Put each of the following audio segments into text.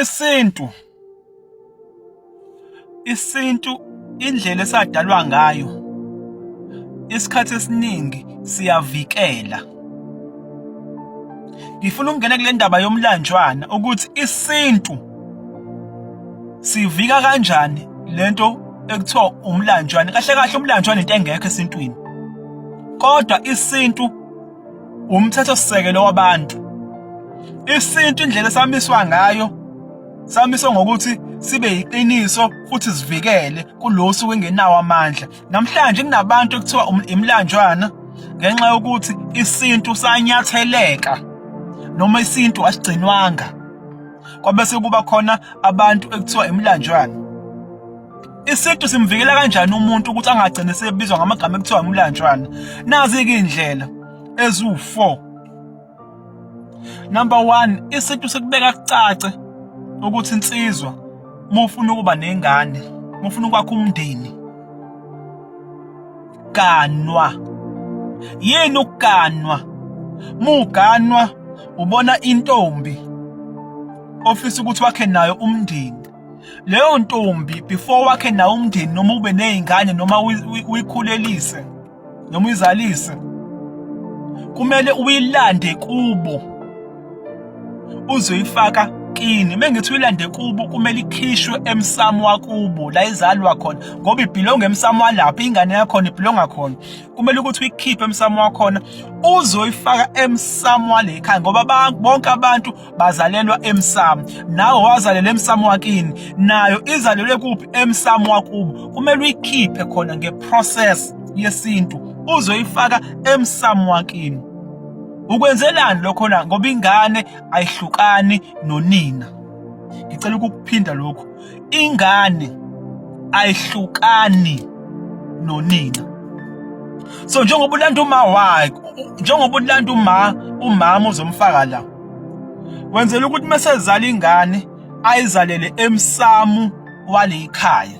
isintu isintu indlela esadalwa ngayo isikhathi esiningi siyavikela ngifuna ukungena kule ndaba yomlanjwana ukuthi isintu sivika kanjani lento ekuthiwa umlanjwana kahle kahle umlanjwana into engekho esintwini kodwa isintu umthethosisekelo wabantu isintu indlela esamiswa ngayo samiswa ngokuthi sibe yiqiniso futhi sivikele kulosu wengenawo amandla namhlanje kunabantu ekuthiwa um-, imlanjwana ngenxa yokuthi isintu sanyatheleka noma isintu asigcinwanga kwabese kuba khona abantu ekuthiwa imlanjwana Isintu simvikela kanjani umuntu ukuthi angagcine sebizwa ngamagama ekuthiwa umlanjwana? Nazi-ke iy'ndlela eziwu-four. Number one, isintu sikubeka kucace ukuthi insizwa uma ufuna ukuba nengane, uma ufuna ukwakha umndeni, ganwa. Yini ukuganwa? Muganwa ubona intombi ofisa ukuthi wakhe nayo umndeni. leyo ntombi before wakhe nawo umndeni noma ube nezingane noma uyikhulelise noma uyizalise kumele uyilande kubo uzoyifaka kini mengithi uyilande kubo kumele ikhishwe emsamo wakubo la izalwa khona ngoba ibhilonga emsamo walapha ingane yakho ibhilonga khona kumele ukuthi uyikhiphe emsamo wakhona uzoyifaka emsamo walekhaya ngoba bonke abantu bazalelwa emsamo nawe wazalela emsamo wakini nayo izalelwe kuphi emsamo wakubo kumele uyikhiphe khona ngeprocess yesintu uzoyifaka emsamo wakini ukwenzelani lokho na ngoba ingane ayihlukani nonina ngicela ukukuphinda lokhu ingane ayihlukani nonina so njengoba ulanda uma wakhe njengoba ulanda uma umama uzomfaka la wenzela ukuthi mesezala ingane ayizalele emsamu walekhaya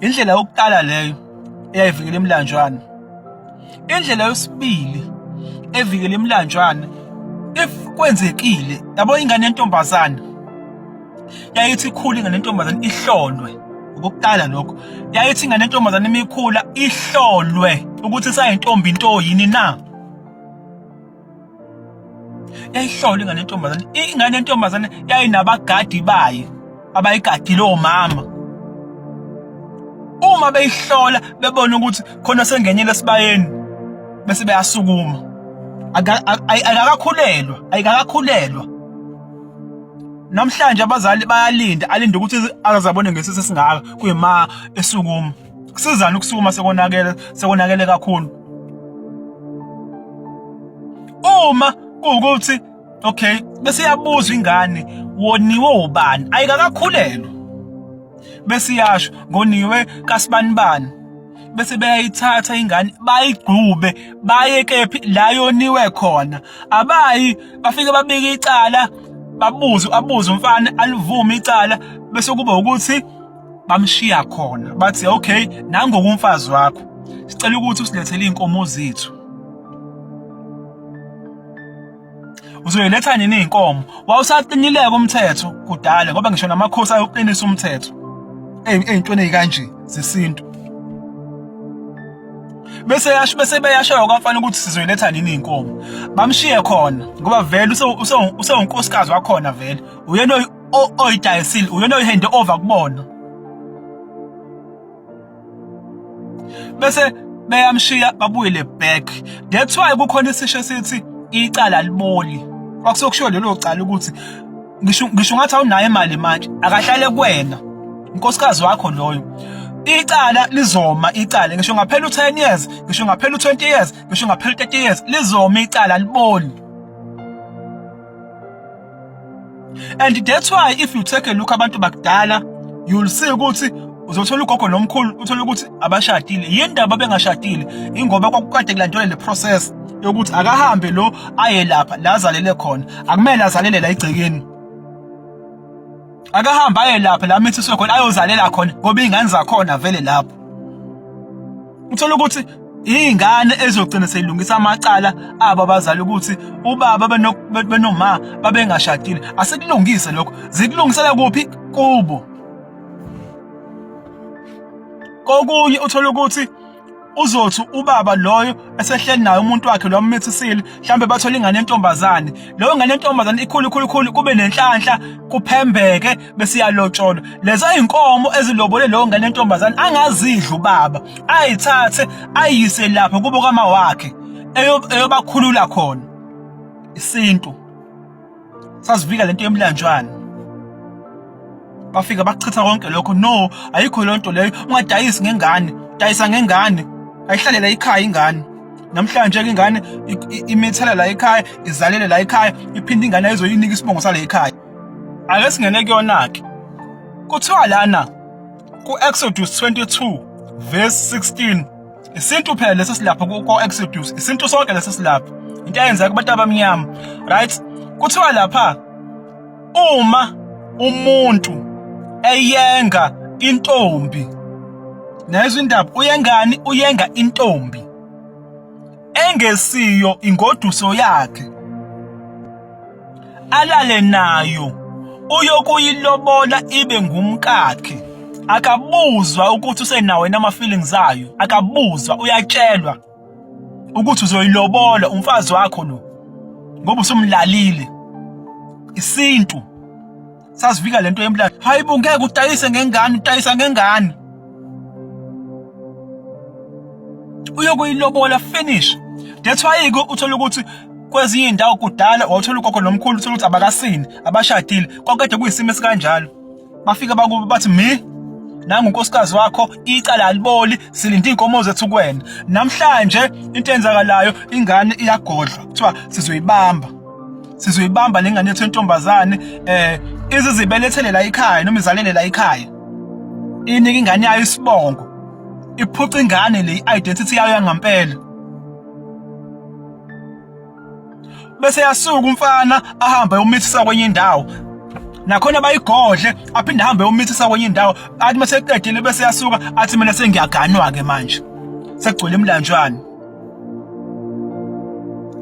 indlela yokuqala leyo eyayivikela imlanjwana indlela yesibili evikela imlanjwana if kwenzekile yabo ingane yentombazana yayithi ikhula ingane yentombazana ihlolwe ukuqala lokho yayithi ingane yentombazana imikhula ihlolwe ukuthi sayintombi into yini na yayihlawula ingane yentombazane ingane yentombazane yayinabagadi bayo abayigadile omama uma beyihlola bebona ukuthi khona sengenyela esibayeni bese beyasukuma ayikakakhulelwa ayikakakhulelwa namhlanje abazali bayalinda alinda ukuthi azabone ngesisi singaka kuyima esukuma kusizana ukusukuma sekonakele sekonakele kakhulu uma kuwukuthi okay bese yabuzwa ingane woniwe ubani ayikakakhulelwa bese yasho ngoniwe kasibanibani bese beyayithatha ingane bayigqube baye kephi la yoniwe khona abayi bafike babike icala babuze abuze umfana alivume icala bese kuba ukuthi bamshiya khona bathi okay nangoku umfazi wakho sicela ukuthi usilethele inkomo zethu uzoyiletha nini inkomo wawusaqinileka umthetho kudala ngoba ngisho namakhosi ayoqinisa umthetho eyintweni ezikanje zesintu bese yasho bese beyashayo kwamfana ukuthi sizoyiletha nini inkomo bamshiye khona ngoba vele usewunkosikazi wakhona vele uyena oyidayisile uyona oyihende over kubona bese beyamshiya babuyele back that's why kukhona isisho sithi icala liboli kwakusokushiwo lelo cala ukuthi ngisho ngisho ngathi awunayo imali manje akahlale kuwena unkosikazi wakho loyo icala lizoma icala ngisho ngaphela u10 years ngisho ngaphela u20 years ngisho ngaphela u30 years lizoma icala liboli and that's why if you take a look abantu bakudala you'll see ukuthi uzothola ugogo nomkhulu uthole ukuthi abashadile yini ndaba bengashadile ingoba kwakukade kulandelwa le process yokuthi akahambe lo aye lapha la azalele khona akumele azalele la igcekeni akahambe aye lapha la mithiswe khona ayozalela khona ngoba iy'ngane zakhona vele lapho uthola ukuthi iy'ngane ezogcina seyilungisa amacala abo abazali ukuthi ubaba benoma babengashadile asikulungise lokho zikulungisela kuphi kubo kokunye uthola ukuthi uzothi ubaba loyo esehleli naye umuntu wakhe lo ammithisile mhlambe bathola ingane yentombazane leyo ngane yentombazane ikhulu ikhulu ikhulu kube nenhlanhla kuphembeke besiyalotsholwa lezo inkomo ezilobole leyo ngane yentombazane angazidla ubaba ayithathe ayise lapho kubo kama wakhe eyobakhulula khona isintu sazivika lento yemlanjwana bafika bachitha konke lokho no ayikho lonto leyo ungadayisi ngengane dayisa ngengane ayihlalela ikhaya ingane namhlanje ke ingane imithela la ekhaya izalele la ekhaya iphinde ingane ayizoyinika isibongo sale ekhaya ake singene kuyona ke kuthiwa lana ku Exodus 22 verse 16 isintu phela lesi silapho kuko Exodus isintu sonke lesi silapho into eyenzeka kubantu abamnyama right kuthiwa lapha uma umuntu eyenga intombi nezwe indaba uyengani uyenga intombi engesiyo ingoduso yakhe alale nayo uyokuyilobola ibe ngumkakhe akabuzwa ukuthi usenawo yena ama-feelings ayo akabuzwa uyatshelwa ukuthi uzoyilobola umfazi wakho lo ngoba usumlalile isintu sasivika lento yemlando hayibo ngeke utayise ngengane utayisa ngengane uyokuyilobola finish that's why ke uthola ukuthi kwezinye indawo kudala wawuthola ugogo nomkhulu uthola ukuthi abakasini abashadile kwakade kuyisimo esikanjalo bafika bakubo bathi mi nangu unkosikazi wakho icala aliboli silinde inkomo zethu kuwena namhlanje into enzakalayo ingane iyagodlwa kuthiwa sizoyibamba sizoyibamba lengane yethu entombazane eh izizibelethele la ikhaya noma izalele la ikhaya inike ingane yayo isibongo iphuca ingane le identity yayo yangampela bese yasuka umfana ahambe umithisa kwenye indawo nakhona bayigodle aphinde ahambe umithisa kwenye indawo athi maseqedile bese yasuka athi mina sengiyaganwa ke manje sekugcwele imlanjwana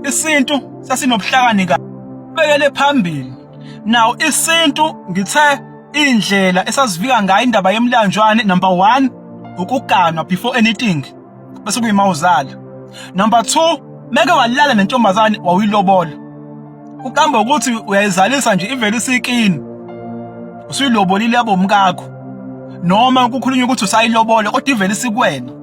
isintu sasinobuhlakani ka bekele phambili now isintu ngithe indlela esasivika ngayo indaba yemlanjwane number 1 ukuganwa before anything bese kuyimawuzala number 2 meke walala nentombazane wawuyilobola ukamba ukuthi uyayizalisa nje ivele isikini usuyilobolile yabomkakho noma kukhulunywa ukuthi usayilobola kodwa ivele isikwena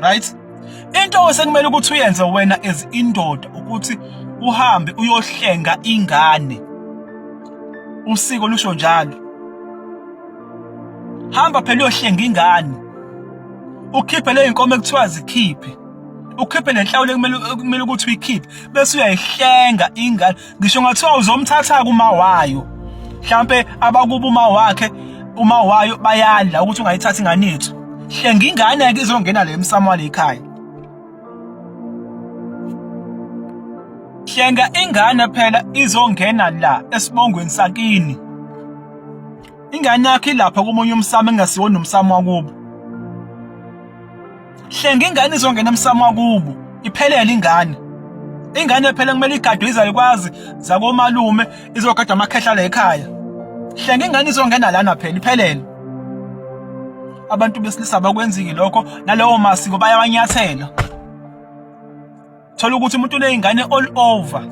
right into osekumele ukuthi uyenze wena as indoda ukuthi uhambe uyohlenga ingane usiko lusho njalo hamba phela uyohlenga ingane ukhiphe le inkomo ekuthiwa zikhiphe ukhiphe lenhlawulo ekumele ukuthi uyikhiphe bese uyayihlenga ingane ngisho ngathiwa uzomthatha kuma wayo mhlambe abakuba uma wakhe uma wayo bayadla ukuthi ungayithatha ingane yethu hlenga ingane ke izongena le msamo wale ekhaya hlenga ingane phela izongena la esibongweni sakini ingane yakhe ilapha komunye umsamo engasiwona umsamo wakubo hlenga ingane izongena emsamo wakubo iphelele ingane ingane phela kumele igadwe izalukwazi zakomalume izogada amakhehla la ekhaya hlenga ingane izongena lana phela iphelele abantu besilisa bakwenziki lokho nalawo masiko bayawanyathela thola ukuthi umuntu uneyingane all over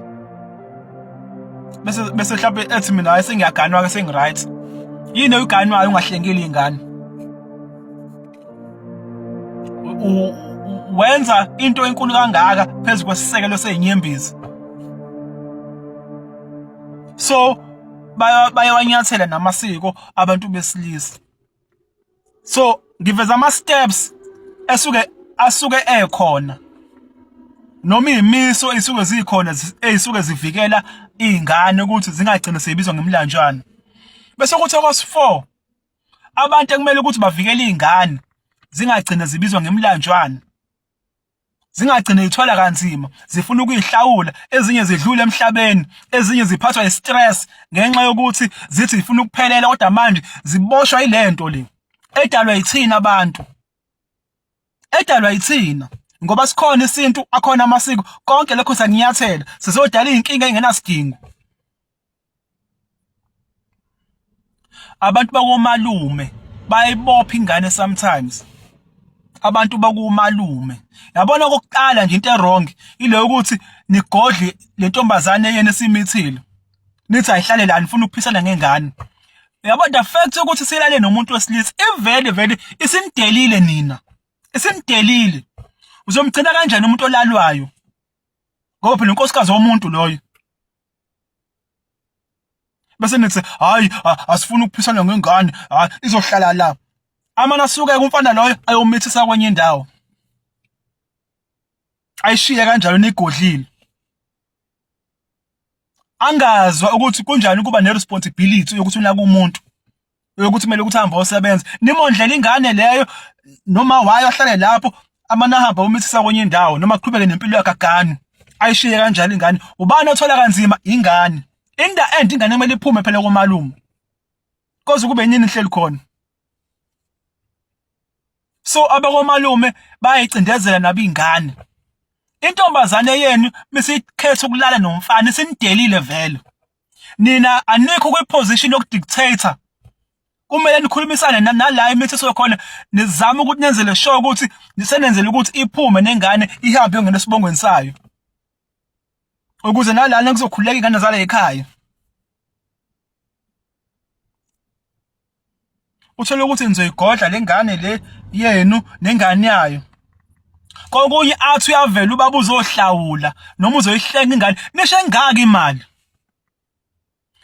bese bese mhlawumbe ethi mina hayi sengiyaganwa ke sengiright yini oyiganwayo ungahlengeli ingane wenza into enkulu kangaka phezu kwesisekelo sezinyembezi so bayawanyathela namasiko abantu besilisa so ngiveza ama steps esuke asuke ekhona noma imiso isuke zikhona ezisuke zivikela izingane ukuthi zingagcini sebizwa ngemlanjwana bese kuthi okos 4 abantu ekumele ukuthi bavikele izingane zingagcini zibizwa ngemlanjwana zingagcine ithwala kanzima zifuna ukuyihlawula ezinye zidlule emhlabeni ezinye ziphathwa istress ngenxa yokuthi zithi zifuna ukuphelela kodwa manje ziboshwa ilento le edalwa yithina abantu edalwa yithina ngoba sikhona isintu akhona amasiko konke lokho sanginyathela sizodala izinkinga engenasidingo Abantu bakomalume bayibopha ingane sometimes abantu bakumalume yabona okokuqala nje into ewrong ile ukuthi nigodle le ntombazane yena esimithile nithi ayihlale la nifuna ukuphisana ngengane yabo the fact ukuthi silale nomuntu wesilisa ivele vele isimdelile nina isimdelile uzomgcina kanjani umuntu olalwayo ngoba phela unkosikazi womuntu loyo bese nithi hayi asifuni ukuphisana ngengane hayi izohlala la amana suke kumfana loyo ayomithisa kwenye indawo ayishiye kanjalo nigodlile angazwa ukuthi kunjani ukuba neresponsibility yokuthi unaka umuntu yokuthi kumele ukuthi ahambe osebenza nimondlela ingane leyo noma wayo ahlale lapho amana hamba umithisa kwenye indawo noma qhubeke nempilo yakhe agane ayishiye kanjalo ingane ubani othola kanzima ingane in the end ingane kumele iphume phela komalume koze kube yini inhleli khona so abakomalume bayayicindezela nabo ingane intombazane yenu misiyikhetha ukulala nomfana sinidelile vele nina anikho kwi position yoku dictator kumele nikhulumisane nala imithetho khona nizama ukuthi nenzele sure ukuthi nisenenzele ukuthi iphume nengane ihambe yongena esibongweni sayo ukuze nalana kuzokhuleka ingane zala ekhaya uthole ukuthi nizoyigodla lengane le yenu nengane yayo kokunye athi uyavela ubaba uzohlawula noma uzoyihlenga ingane nisho engaka imali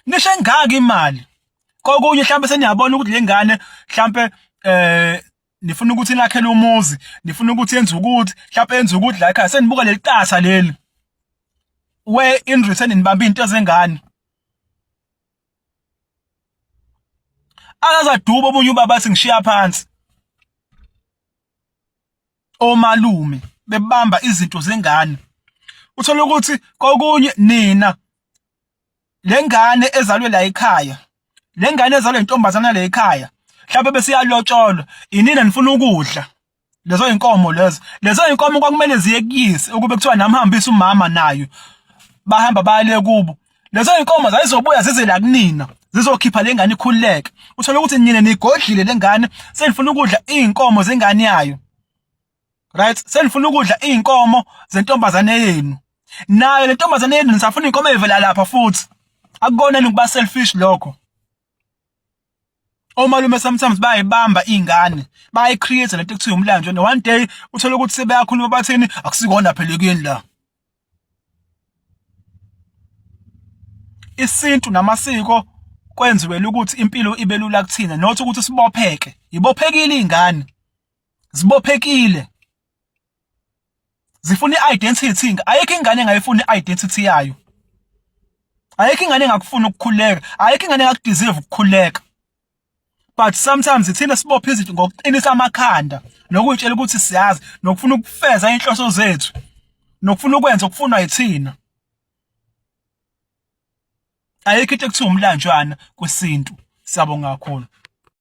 nisho engaka imali kokunye mhlawumbe seniyabona ukuthi le ngane mhlawumbe eh nifuna ukuthi nakhele umuzi nifuna ukuthi yenze ukuthi mhlawumbe yenze ukuthi la ekhaya senibuka leli qatha leli we in return nibamba into zengane akazaduba omunye ubaba athi ngishiya phansi omalume bebamba izinto zengane uthola ukuthi kokunye nina lengane ezalwe la ekhaya lengane ezalwe intombazana la ekhaya mhlawumbe bese yalotsholwa inina nifuna ukudla lezo inkomo lezo lezo inkomo kwakumele ziye kuyise ukube kuthiwa nami hambisa umama nayo bahamba bale kubo lezo inkomo zayizobuya zize la kunina zizokhipha lengane ikhululeke uthola ukuthi nina nigodlile lengane senifuna ukudla izinkomo zengane yayo right senifuna ukudla izinkomo zentombazane yenu nayo le ntombazane yenu nisafuna inkomo evela lapha futhi akukona ukuba selfish lokho omalume sometimes bayayibamba iy'ngane bayayicreate lento ekuthiwa umlando and one day uthole ukuthi sebeyakhuluma bathini akusikona phela ekuyeni la isintu namasiko kwenziwele ukuthi impilo ibe lula kuthina not ukuthi sibopheke yibophekile iy'ngane zibophekile zifuna i-identity ayikho ingane engayifuni i-identity yayo ayikho ingane engakufuna ukukhuleka ayikho ingane engakudeserve ukukhuleka but sometimes ithina sibopha izinto ngokuqinisa amakhanda nokutshela ukuthi siyazi nokufuna ukufeza inhloso zethu nokufuna ukwenza okufunwa yithina ayikho into ekuthiwa umlanjwana kwesintu siyabonga kakhulu